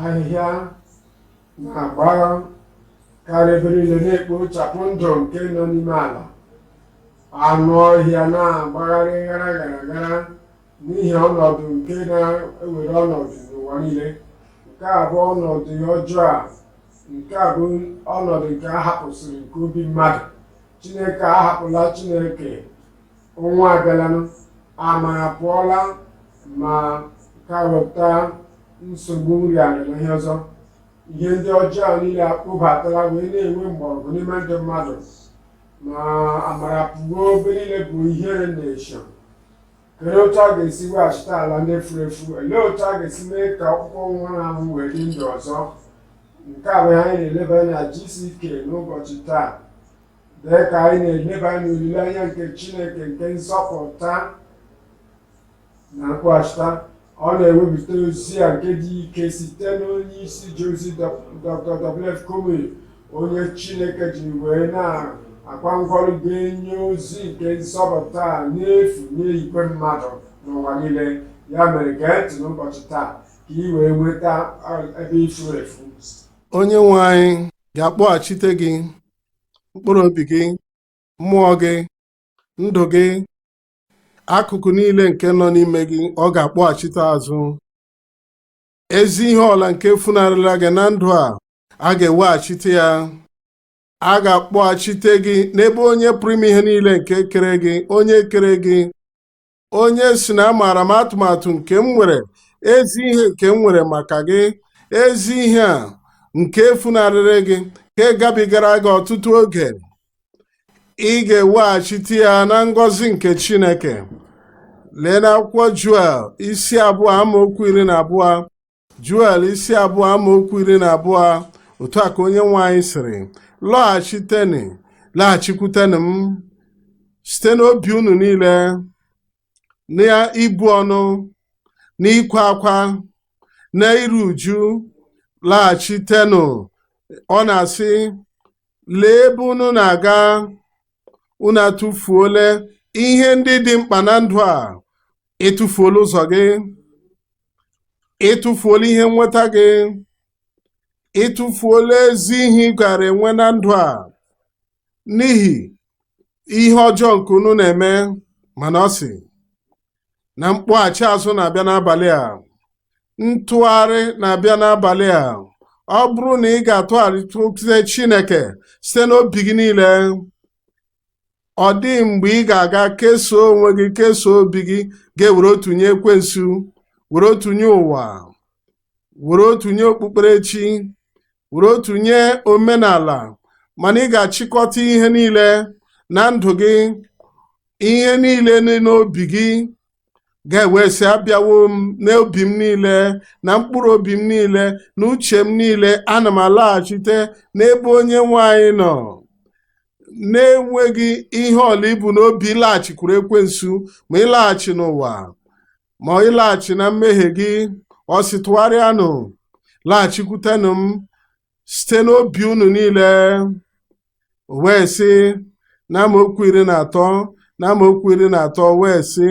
ahịhịa na-agbakarị ebe niile na-ekpochapụ ndụ nke nọ n'ime ala anụ ọhịa na-agbagharị gara gara gara n'ihi ọnọdụ nke na-ewere ọnọdụ n'ụwa niile nke a bụ ọnọdụ ọjọọ a nke a bụ ọnọdụ nke a hapụsịrị nke obi mmadụ chineke ahapụla chineke ọnwa abịalanụ amara apụọla ma ka wepụta nsogbu nri ala na ihe ọzọ ihe ndị ọjọọ niile akpụbatala wee na-enwe mgbọrọgwụ n'ime ndị mmadụ ma amara pụọ ebe niile bụ ihere na-esho Kedu otu a ga-esi weghachite ala ndị furu efu? Olee otu a ga-esi mee ka ọkpụkpụ nwụrụ anwụ wee dị ndụ ọzọ? Nke a bụ ihe anyị na-eleba anya na GCK n'ụbọchị taa. Dị ka anyị na-eleba anya n'olileanya nke Chineke nke nzọpụta na mkpọghachita Ọ na-ewepụta ozi a nke dị ike site n'onye isi ji ozi Dr. WF Kumuyi onye Chineke ji wee na-akwa ngwa ọrụ ga-enye ozi nke nzọpụta a n'efu nye igwe mmadụ n'ụwa niile ya mere gee ntị n'ụbọchị taa ka ị wee nweta ebe i furu efu onye nwe anyị ga-akpọghachite gị mkpụrụ obi gị mmụọ gị ndụ gị akụkụ niile nke nọ n'ime gị ọ ga-akpọghachite azụ ezi ihe ọ bụla nke funarịrị gị na ndụ a a ga-eweghachite ya a ga-akpọghachite gị n'ebe onye pụrụ ime ihe niile nke kere gị onye kere gị onye si na amaara m atụmatụ nke m nwere ezi ihe nke m nwere maka gị ezi ihe a nke funarịrị gị nke gabigara gị ọtụtụ oge ị ga-eweghachite ya na ngọzi nke chineke lee n'akwụkwọ juel isi abụọ amaokwu iri na abụọ juel isi abụọ amaokwu iri na abụọ otu a ka onye nwe anyị sịrị lọghachitenụ laghachikwutenụ m site n'obi unu niile na ibu ọnụ na ịkwa akwa na iru uju laghachitenụ ọ na-asị Lee ebe unu na-aga. Unu atụfuola ihe ndị dị mkpa na ndụ a. Ị tụfuola ụzọ gị. Ị tụfuola ihe nweta gị. Ị tụfuola ezi ihe ị gaara enwe na ndụ a n'ihi ihe ọjọọ nke unu na-eme. Mana ọ sị, na mkpọghachi azụ na-abịa n'abalị a ntụgharị na-abịa n'abalị a ọ bụrụ na ị ga-atụgharịtụte Chineke site n'obi gị niile ọ dịghị mgbe ị ga-aga kesoo onwe gị kesoo obi gị ga-ewere otu nye ekwensu were otu nye ụwa were otu nye okpukperechi were otu nye omenala mana ị ga-achịkọta ihe niile na ndụ gị ihe niile dị n'obi gị gaa wee sị abịawo m n'obi m niile na mkpụrụ obi m niile na uche m niile ana m alaghachite n'ebe onye nwe anyị nọ na-enweghị ihe ọbụla i bu n'obi ịlaghachikwuru ekwensu ma ịlaghachi n'ụwa ma ịlaghachi na mmehie gị ọ sị tụgharịanụ laghachikwutenụ m site n'obi unu niile o wee sị na amaokwu iri na atọ na amaokwu iri na atọ wee sị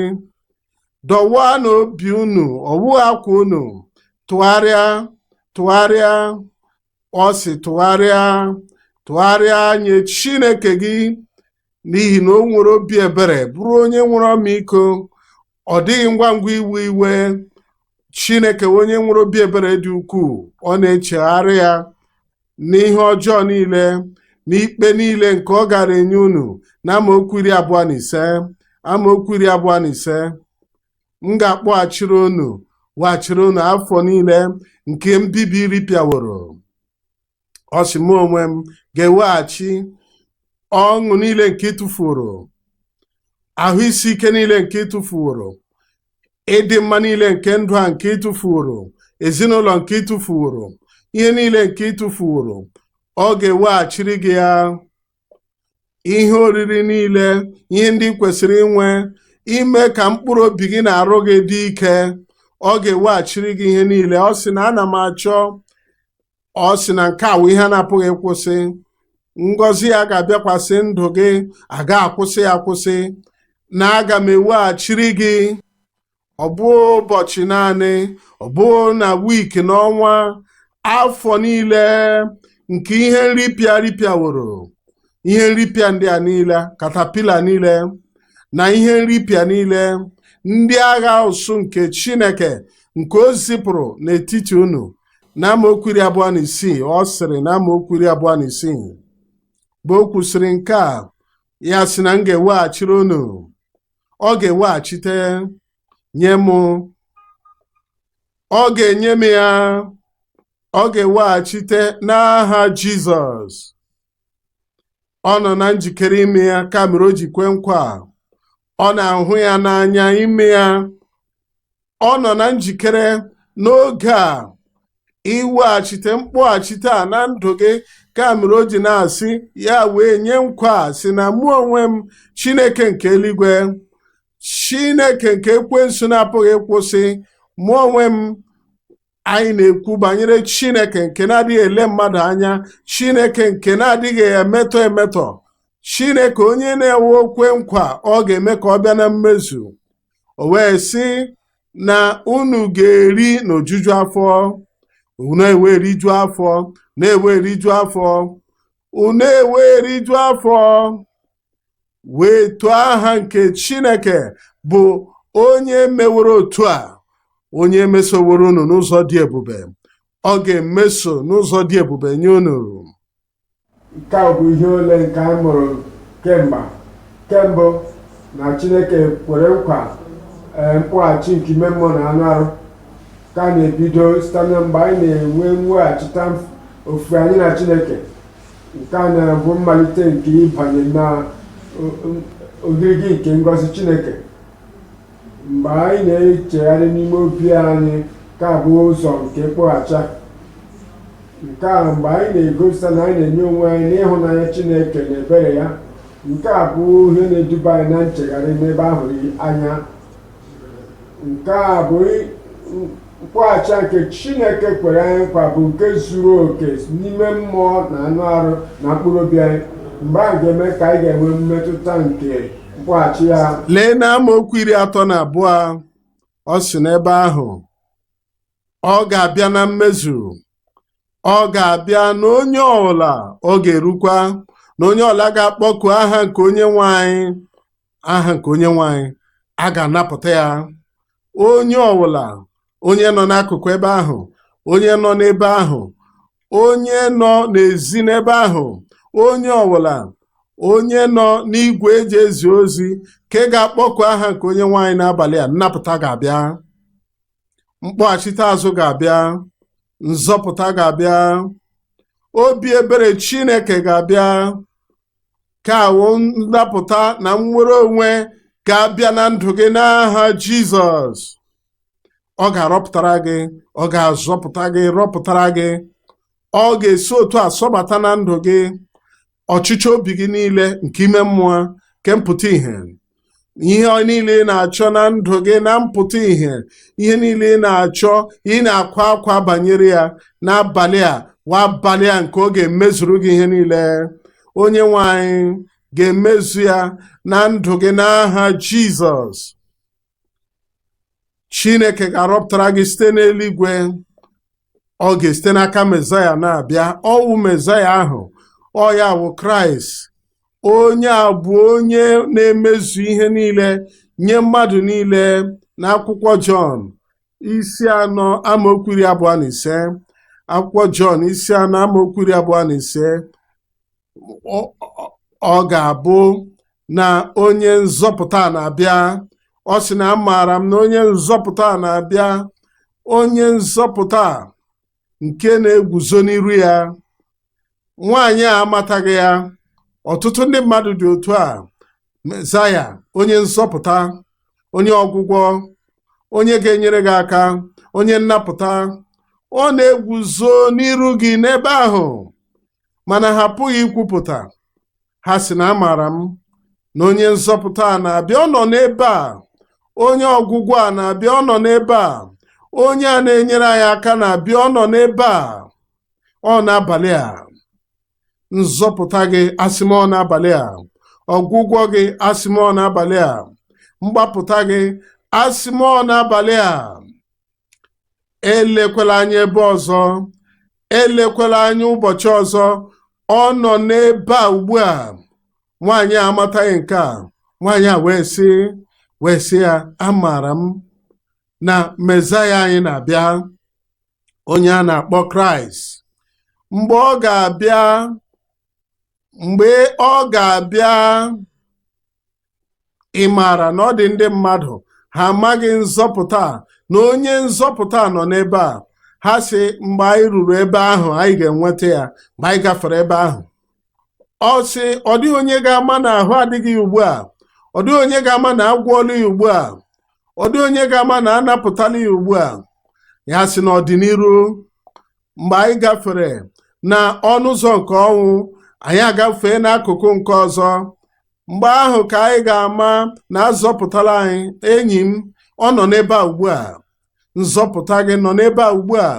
dọwaanụ obi unu ọ wụghị akwa unu tụgharịa tụgharịa ọ sị tụgharịa tụgharịa nye Chineke gị n'ihi na o nwere obi ebere bụrụ onye nwere ọmịiko ọ dịghị ngwa ngwa iwe iwe Chineke onye nwere obi ebere dị ukwuu ọ na-echegharị ya n'ihe ọjọọ niile n'ikpe niile nke ọ gara enye unu na amaokwu iri abụọ na ise amaokwu iri abụọ na ise m ga-akpọghachiri unu weghachiri unu afọ niile nke mbibi ripịaworo ọ sị mụ onwe m ga-eweghachi ọṅụ niile nke ị tụfuoro ahụ isi ike niile nke ị tụfuoro ịdị mma niile nke ndụ a nke ị tụfuoro ezinụlọ nke ị tụfuoro ihe niile nke ị tụfuoro ọ ga-eweghachiri gị ya ihe oriri niile ihe ndị i kwesịrị inwe ime ka mkpụrụ obi gị na arụ gị dị ike ọ ga-eweghachiri gị ihe niile ọ sị na ana m achọ ọ sị na nke a wụ ihe a na-apụghị ịkwụsị ngọzi ya ga-abịakwasị ndụ gị aga akwụsị ya akwụsị na aga m eweghachiri gị ọ bụ ụbọchị naanị ọ bụ na wiiki n'ọnwa afọ niile nke ihe nripịa ripịaworo ihe nripịa ndị a niile katapila niile na ihe nripịa niile ndị agha usuu nke Chineke nke o zipụrụ n'etiti unu na amaokwu iri abụọ na isii ọ sịrị na amaokwu iri abụọ na isii mgbe o kwusịrị nke a ya sị na m ga-eweghachiri unu ọ ga-eweghachite nye m ọ ga-enye m ya ọ ga-eweghachite n'aha Jizọs ọ nọ na njikere ime ya ka mere o ji kwe nkwa a. ọ na-ahụ ya n'anya ime ya ọ nọ na njikere n'oge a iweghachite mkpọghachite a na ndụ gị ka mere o ji na-asị ya wee nye nkwa a sị na mụ onwe m chineke nke eluigwe chineke nke ekwensu na-apụghị ịkwụsị mụ onwe m anyị na-ekwu banyere chineke nke na-adịghị ele mmadụ anya chineke nke na-adịghị emetọ emetọ chineke onye na-ewe o kwe nkwa ọ ga-eme ka ọ bịa na mmezu o wee sị na unu ga-eri n'ojuju afọ unu ewee riju afọ na-ewe riju afọ unu ewee riju afọ wee too aha nke Chineke bụ onye meworo otu a onye mesoworo unu n'ụzọ dị ebube ọ ga-emeso n'ụzọ dị ebube nye unu nke a bụ ihe ole nke anyị mụrụ kemgbe kembụ na Chineke kwere nkwa eh, mkpọghachi nke ime mmụọ na anụ arụ ka na-ebido site na mgbe anyị na-enwe mweghachita ofufe anyị na Chineke nke a na-abụ mmalite nke ịbanye na ogirigi nke ngọzi Chineke mgbe anyị na-echegharị n'ime obi anyị ka bụ ụzọ nke mkpọghachi nke a mgbe anyị na-egosita na anyị na-enye onwe anyị n'ịhụnanya Chineke na ebere ya nke a bụ ihe na-eduba anyị na nchegharị n'ebe a hụrụ anya nke a bụ mkpọghachi nke chineke kwere anyị nkwa bụ nke zuru oke n'ime mmụọ na anụ arụ na mkpụrụ obi anyị mgbe a ga-eme ka anyị ga-enwe mmetụta nke mkpọghachi ya lee na amaokwu iri atọ na abụọ ọ sị n'ebe ahụ ọ ga-abịa na mmezu ọ ga-abịa na onye ọbụla ọ ga-erukwa na onye ọbụla ga-akpọku aha nke onyenwe anyị aha nke onyenwe anyị a ga-anapụta ya onye ọbụla onye nọ n'akụkụ ebe ahụ onye nọ n'ebe ahụ onye nọ n'ezi n'ebe ahụ onye ọbụla onye nọ n'igwe e ji ezi ozi ka ị ga-akpọku aha nke onyenwe anyị n'abalị a nnapụta ga-abịa mkpọghachite azụ ga-abịa nzọpụta ga-abịa obi ebere chineke ga-abịa nke a wụ nnapụta na nnwere onwe ga-abịa na ndụ gị n'aha jizọs ọ ga-arọpụtara gị ọ ga-azọpụta gị rọpụtara gị ọ ga-esi otu a sọbata na ndụ gị ọchịchọ obi gị niile nke ime mmụọ nke mpụta ihe ihe niile ị na-achọ na ndụ gị na mpụta ihe ihe niile ị na-achọ ị na-akwa akwa banyere ya n'abalị a wa abalị a nke ọ ga-emezuru gị ihe niile onye nwe anyị ga-emezu ya na ndụ gị n'aha Jizọs Chineke ga-arọpụtara gị site n'eluigwe ọ ga-esite n'aka mezaya na-abịa ọ wụ mezaya ahụ ọ ya wụ kraịst onye a bụ onye na-emezu ihe niile nye mmadụ niile n'akwụkwọ jọn isi anọ amaokwu iri abụọ na ise akwụkwọ jọn isi anọ amaokwu iri abụọ na ise ọ ga-abụ na onye nzọpụta na-abịa ọ sị na amaara m na onye nzọpụta na-abịa onye nzọpụta nke na-eguzo n'iru ya nwaanyị a amataghị ya ọtụtụ ndị mmadụ dị otu a mezaya onye nzọpụta onye ọgwụgwọ onye ga-enyere gị aka onye nnapụta ọ na-eguzo n'iru gị n'ebe ahụ mana ha apụghị ikwupụta ha sị na amaara m na onye nzọpụta a na-abịa ọ nọ n'ebe a onye ọgwụgwọ a na-abịa ọ nọ n'ebe a onye a na-enyere anyị aka na-abịa ọ nọ n'ebe a ọ n'abalị a nzọpụta gị asị m ọ n'abalị a ọgwụgwọ gị asị m ọ n'abalị a mgbapụta gị asị m ọ n'abalị a elekwala anya ebe ọzọ elekwala anya ụbọchị ọzọ ọ nọ n'ebe a ugbu a nwaanyị a amataghị nke a nwaanyị a wee sị wee sị ya amaara m na mezaya anyị na-abịa onye a na-akpọ kraịst mgbe ọ ga-abịa mgbe ọ ga-abịa ị maara na ọ dị ndị mmadụ ha amaghị nzọpụta na onye nzọpụta nọ n'ebe a ha sị mgbe anyị ruru ebe ahụ anyị ga-enweta ya mgbe anyị gafere ebe ahụ ọ sị ọ dịghị onye ga-ama na ahụ adịghị ya ugbu a ọ dịghị onye ga-ama na agwọọla ya ugbu a ọ dịghị onye ga-ama na anapụtala ya ugbu a ya sị n'ọdịniru mgbe anyị gafere na ọnụ ụzọ nke ọnwụ anyị agafee n'akụkụ nke ọzọ mgbe ahụ ka anyị ga-ama na azọpụtara anyị enyi m ọ nọ n'ebe a ugbu a nzọpụta gị nọ n'ebe a ugbu a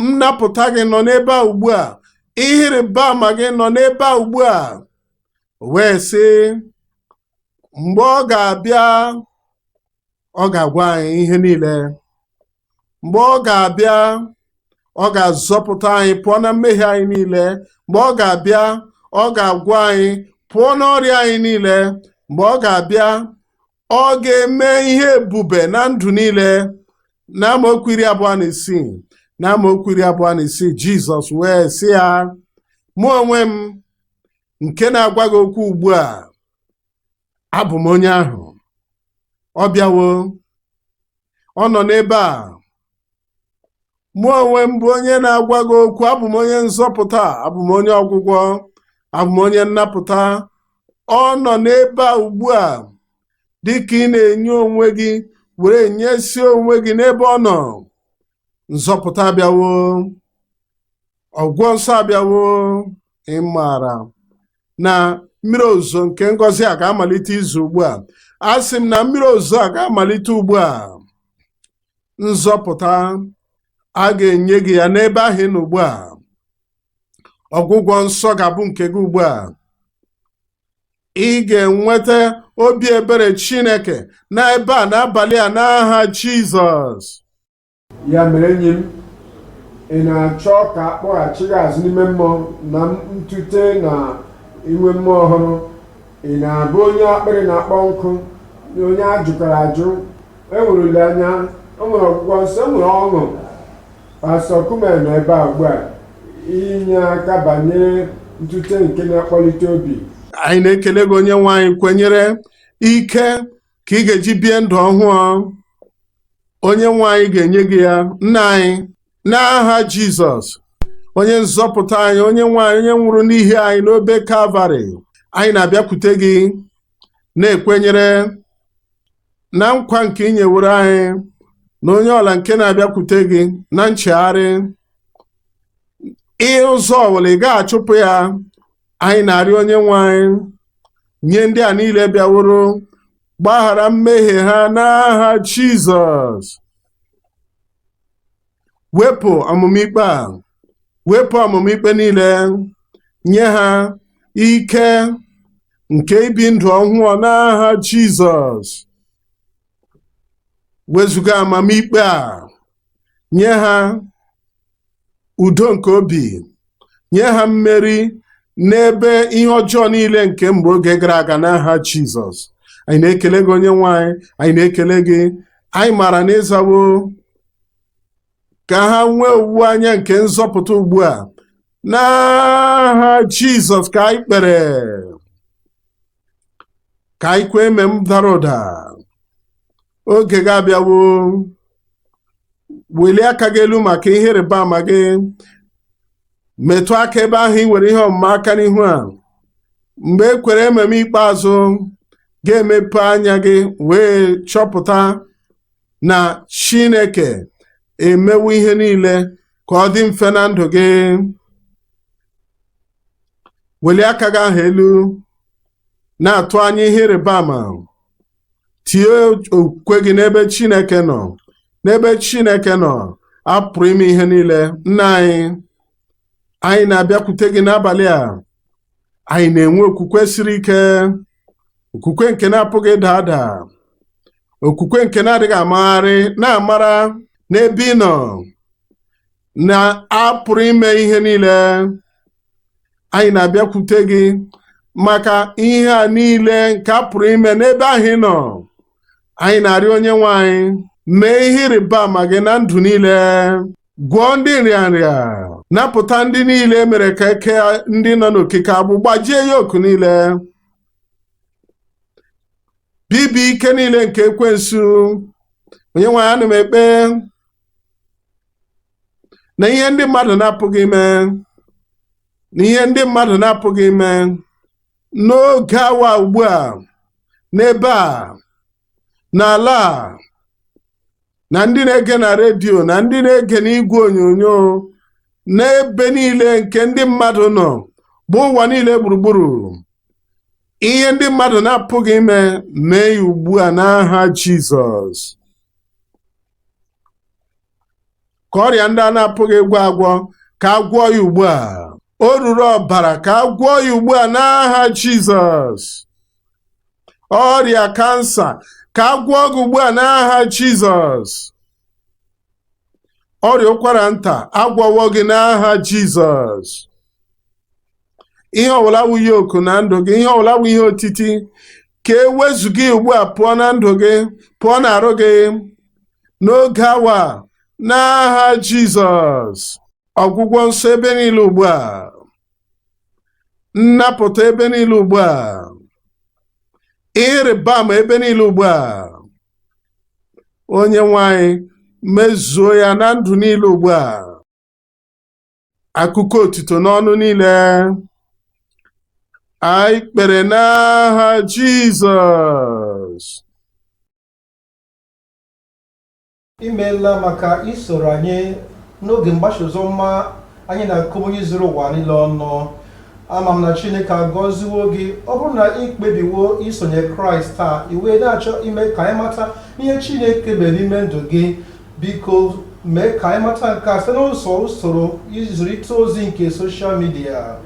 nnapụta gị nọ n'ebe a ugbu a ihe ịrịba ama gị nọ n'ebe a ugbu a wee sị mgbe ọ ga-abịa ọ ga-agwa anyị ihe niile mgbe ọ ga-abịa ọ ga-azọpụta anyị pụọ na mmehie anyị niile mgbe ọ ga-abịa ọ ga-agwọ anyị pụọ n'ọrịa anyị niile mgbe ọ ga-abịa ọ ga-eme ihe ebube na ndụ niile n'amaokwu iri abụọ na isii n'amaokwu iri abụọ na isii jizọs wee sị ya mụ onwe m nke na-agwa gị okwu ugbu a abụ m onye ahụ ọ bịawo ọ nọ n'ebe a mụ onwe m bụ onye na-agwa gị okwu abụ m onye nzọpụta abụ m onye ọgwụgwọ abụ m onye nnapụta ọ nọ n'ebe a ugbu a dị ka ị na-enye onwe gị were nyesie onwe gị n'ebe ọ nọ nzọpụta abịawo ọgwụgwọ nsọ abịawo ị maara na mmiri ozuzo nke ngọzi a ga-amalite izo ugbu a asị m na mmiri ozuzo a ga-amalite ugbu a nzọpụta a ga-enye gị ya n'ebe ahụ ị nọ ugbu a ọgwụgwọ nsọ ga-abụ nke gị ugbu a ị ga-enweta obi ebere Chineke n'ebe a n'abalị a n'aha Jizọs ya mere enyi m ị na-achọ ka a kpọghachi gị azụ n'ime mmụọ na ntute na inwe mmụọ ọhụrụ ị na-abụ onye akpịrị na-akpọ nkụ onye a jụkwara ajụ enwere olileanya enwere ọgwụgwọ nsọ enwere ọṅụ pastọ kumuyi nọ ebe a ugbu a inye aka banyere ntute nke na-akpọlite obi anyị na-ekele gị onye nwe anyị kwenyere ike ka ị ga-eji bie ndụ ọhụụ onye nwe anyị ga-enye gị ya nna anyị n'aha jizọs onye nzọpụta anyị onye nwe anyị onye nwụrụ n'ihi anyị n'obe kalvarị anyị na-abịakwute gị na-ekwenyere na nkwa nke ị nyewere anyị na onye ọbụla nke na-abịakwute gị na nchegharị ihe ụzọ ọbụla ị ga-achụpụ ya anyị na-arịọ onye nwe anyị nye ndị a niile bịaworo gbaghara mmehie ha n'aha Jizọs wepụ ọmụma ikpe a wepụ ọmụma ikpe niile nye ha ike nke ibi ndụ ọhụụ n'aha Jizọs wezuga amamikpe a nye ha udo nke obi nye ha mmeri n'ebe ihe ọjọọ niile nke mgbe oge gara aga n'aha Jizọs anyị na-ekele gị onye nwe anyị anyị na-ekele gị anyị maara na ị zawo ka ha nwee owuwe anya nke nzọpụta ugbu a n'aha Jizọs ka anyị kpere ka anyị kwee amen dara ụda oge gị abịawo welie aka gị elu maka ihe ịrịba ama gị metụ aka ebe ahụ ị nwere ihe ọmụma aka n'ihu a mgbe e kwere amen ikpeazụ ị ga-emepe anya gị wee chọpụta na Chineke emewo ihe niile ka ọ dị mfe na ndụ gị welie aka gị ahụ elu na-atụ anya ihe ịrịba ama tinye okwukwe gị n'ebe Chineke nọ n'ebe Chineke nọ a pụrụ ime ihe niile nna anyị anyị na-abịakwute gị n'abalị a anyị na-enwe okwukwe siri ike okwukwe nke na-apụghị ịda ada okwukwe nke na-adịghị amagharị na-amara n'ebe ị nọ na a pụrụ ime ihe niile anyị na-abịakwute gị maka ihe a niile nke a pụrụ ime n'ebe ahụ ị nọ anyị na-arịọ onye nwe anyị mee ihe ịrịba ama gị na ndụ niile gwọọ ndị nrịanrịa napụta ndị niile e mere ka e kee ndị nọ n'okike agbụ gbajie yoku niile bibie ike niile nke ekwensu onye nwe anyị ana m ekpe na ihe ndị mmadụ na-apụghị ime na ihe ndị mmadụ na-apụghị ime n'oge awa ugbu a n'ebe a n'ala a na ndị na-ege na redio na ndị na-ege n'igwe onyonyo n'ebe niile nke ndị mmadụ nọ gbaa ụwa niile gburugburu ihe ndị mmadụ na-apụghị ime mee ya ugbu a n'aha Jizọs ka ọrịa ndị a na-apụghị ịgwọ agwọ ka a gwọọ ya ugbu a oruru ọbara ka a gwọọ ya ugbu a n'aha Jizọs ọrịa kansa ka a gwọọ gị ugbu a n'aha Jizọs ọrịa ụkwara nta a gwọwo gị n'aha Jizọs ihe ọbụla wụ yoku na ndụ gị ihe ọbụla wụ ihe otiti ka e wezụga ya ugbu a pụọ na ndụ gị pụọ n'arụ gị n'oge awa a, n'aha Jizọs ọgwụgwọ nsọ ebe niile ugbu a nnapụta ebe niile ugbu a ihe ịrịba ama ebe niile ugbu a onye nwe anyị mezuo ya na ndụ niile ugbu a akụkọ otuto n'ọnụ niile anyị kpere n'aha Jizọs imeela maka isoro anyị n'oge mgbasa ozi ọma anyị na Kumuyi zuru ụwa niile ọnụ ama m na chineke agọziwo gị ọ bụrụ na ị kpebiwo isonye kraịst taa ị wee na-achọ ime ka anyị mata ihe chineke mere n'ime ndụ gị Biko mee ka anyị mata nke a site n'ụzọ usoro izirịta ozi nke soshal midia.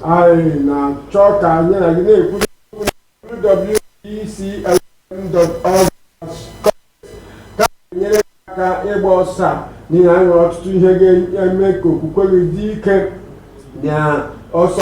anyị na-achọ ka anyị na gị na-ekwurịta okwu na www.dclm.org ka a ga-enyere gị aka ịgba ọsọ a n'ihi na anyị nwere ọtụtụ ihe ga-eme ka okwukwe gị dị ike na ọsọ